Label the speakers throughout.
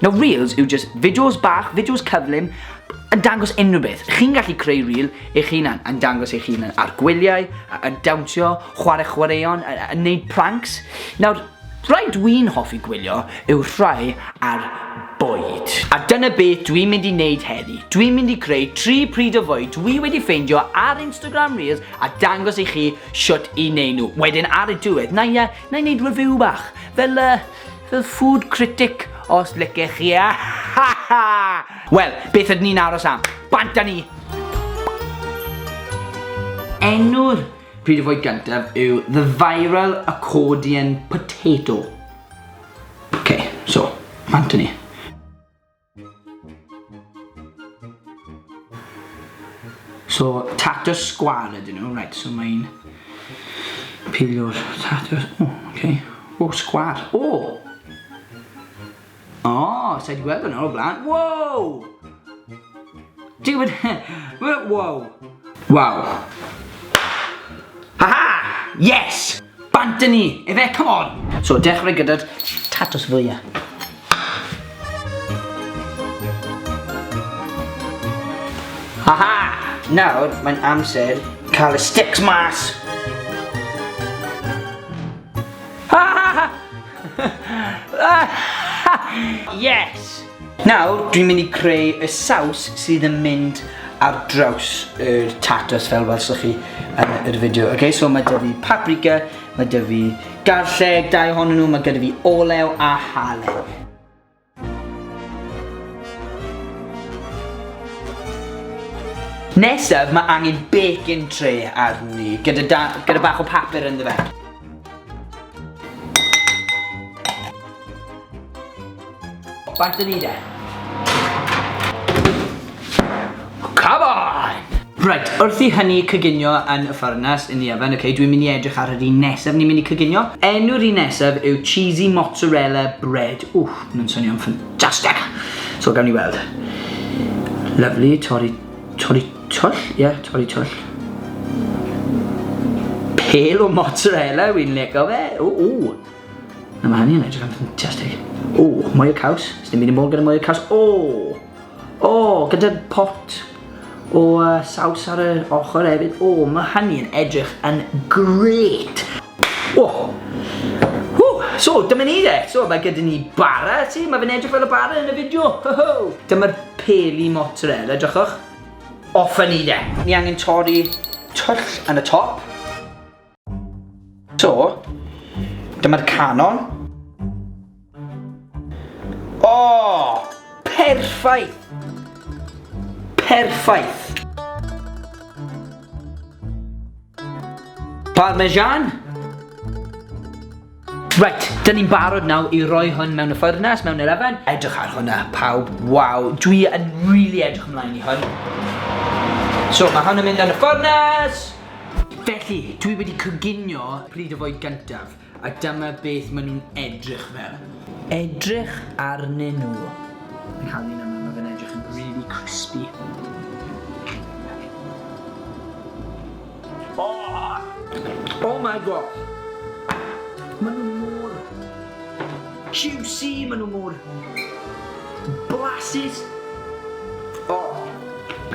Speaker 1: Nawr Reels yw jyst fideos bach, fideos cyflym, yn dangos unrhyw beth. Chi'n gallu creu reel eich hunan, yn dangos eich hunan ar gwyliau, yn dawnsio, chwarae chwaraeon, yn neud pranks. Nawr, rhai dwi'n hoffi gwylio yw rhai ar bwyd. A dyna beth dwi'n mynd i wneud heddi. Dwi'n mynd i creu tri pryd o fwyd dwi wedi ffeindio ar Instagram Reels a dangos i chi shwt i neud nhw. Wedyn ar y diwedd, na i, na i neud review bach, fel uh, Fel food critic os licech chi a ha ha! Wel, beth ydyn ni'n aros am? Bant â ni! Enw'r pryd o fwyd gyntaf yw The Viral Accordion Potato. Ok, so, bant â ni. So tatws sgwâr ydyn nhw, right, so mae'n pilio'r tatws, o, oh, ok, o, oh, sgwâr, o! Oh! O, oh, sa'i wedi gweld hwnna o'r blaen, wow! Duw yn he... Wow! Wow! Haha! Yes! Bant â ni! Efe, come on! So, dechrau gyda'r tatws fwya. Haha! Nawr, mae'n amser cael y sticks mas! Haha! Yes! Nawr, dwi'n mynd i creu y saws sydd yn mynd ar draws yr tatws fel welsoch chi yn yr fideo. Okay, so mae dyfu paprika, mae dyfu garlleg, dau ohonyn nhw, mae gyda fi olew a halen. Nesaf, mae angen bacon tray arni, gyda, da, gyda bach o papur ynddo fe. Faint dyn ni de? Come on! Right, wrth i hynny cyginio yn y ffyrnas yn y oven, okay, dwi'n mynd i edrych ar yr un nesaf ni'n mynd i cyginio. Enw'r un nesaf yw cheesy mozzarella bread. Wff, mae'n swnio'n ffantastig. So gawn ni weld. Lovely, torri, torri twll, ie, yeah, torri twll. Pale o mozzarella, wy'n leco fe. Ww, ww. Na, mae hynny'n edrych yn ffantastig. O, mwy o caws. Sdim byd yn bod gyda mwy o caws. O! O, gyda'r pot o uh, saws ar yr ochr hefyd. O, mae hynny'n edrych yn gret. O! Ww, so, dyma ni de. So, mae gyda ni bara, ti? Mae fe'n edrych fel y bara yn y fideo. Ho, ho! Dyma'r peli mozzarella, drychwch. Off ni de. Ni angen torri twll yn y top. So, dyma'r canon. O! Oh, perffaith! Perffaith! Parmesan? Reit, dyn ni'n barod nawr i roi hwn mewn y ffyrnas, mewn yr efen. Edrych ar hwnna, pawb. Waw, dwi yn really edrych ymlaen i hwn. So, mae hwn yn mynd yn y ffyrnas! Felly, dwi wedi coginio pryd o fwyd gyntaf, a dyma beth maen nhw'n edrych fel. Edrych arnyn nhw. Fi'n cael un yma, mae fe'n edrych yn really crispy. Oh! Oh my god! Maen nhw mor... Juicy, maen nhw mor... Blasus! Oh!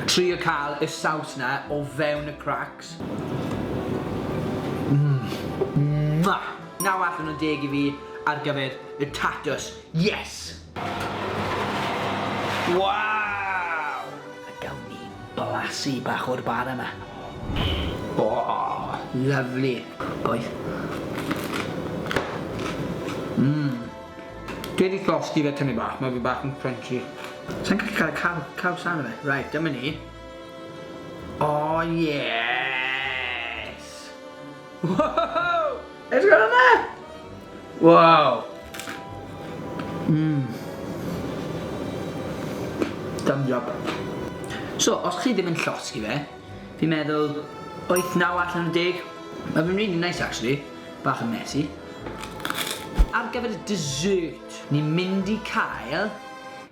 Speaker 1: Trio cael y saws na o fewn y cracks. Mmm! Mwah! Naw allan o deg i fi ar gyfer y tatws. Yes! Waw! A gawn ni blasu bach o'r bar yma. O! Lyfli! Bois. Mmm. Dwi wedi llosgi fe tynnu bach, mae fe bach yn crunchy. Sa'n gallu cael y caw, caws arno fe. Right, dyma ni. O, yes! Wow! Edrych ar hwnna! Wow! Mmm. Thumbs up. So, os chi ddim yn llosgi fe, fi'n meddwl 8, 9 allan o 10. Mae fe'n really nice actually, bach yn messy. Ar gyfer y dessert, ni'n mynd i cael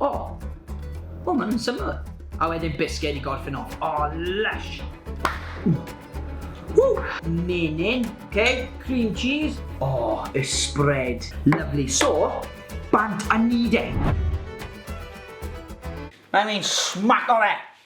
Speaker 1: O! O, maen nhw'n syml. A wedyn bisged i gorffen off. O, lush! Ww! Menyn, oce, cream cheese. O, y spread. Lovely. So, bant a ni de. Mae'n mynd smaco fe!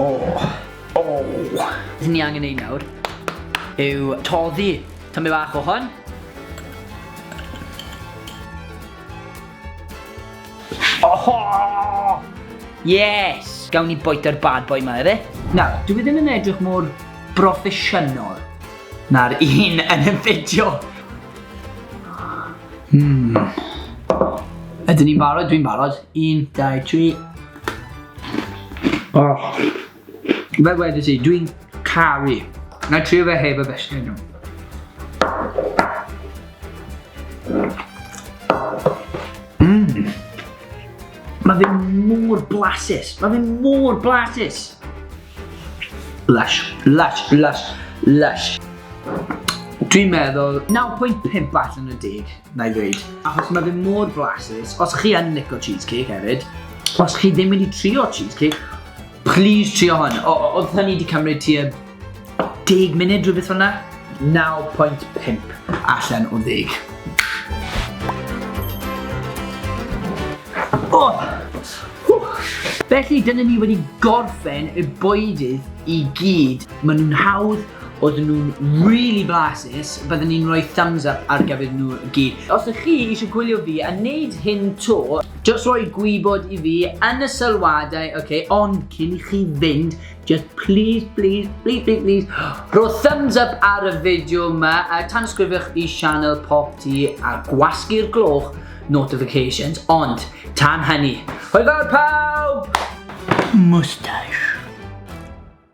Speaker 1: O! O! Beth ni angen ei nawr yw toddi tymau bach o hon. Oho! Yes! Gawn ni boita'r bad boy yma, efe? Nawr, dwi e ddim yn edrych mor broffesiynol na'r un yn y fideo. Hmm. Ydyn ni'n barod? Dwi'n barod. 1, 2, 3. Oh. Fe wedi ti, dwi'n caru. Na i trio fe heb y besti nhw. Mmm. Mae fe mor blasus. Mae fe mor blasus. Lush, lush, lush, lush. Dwi'n meddwl 9.5 allan o 10, na i ddweud. Achos mae fe mor flasus, os chi yn lico cheesecake hefyd, os chi ddim wedi trio cheesecake, please trio hwn. O, o, oedd hynny wedi cymryd tua 10 munud rhywbeth hwnna? 9.5 allan o 10. O! Felly dyna ni wedi gorffen y bwydydd i gyd, maen nhw'n hawdd, oedden nhw'n rili blasus, bydden i'n rhoi thumbs up ar gyfer nhw i gyd. Os ydych chi eisiau gwylio fi yn neud hyn 'to, jyst rhoi gwybod i fi yn y sylwadau ok, ond cyn i chi fynd, jyst plîs, plîs, plîs, plîs, plîs, rho thumbs up ar y fideo 'ma, a tanysgrifiwch i sianel Pop Tee a gwasgu'r gloch, notifications, ond tan hynny, hwyl fawr pawb! Moustache.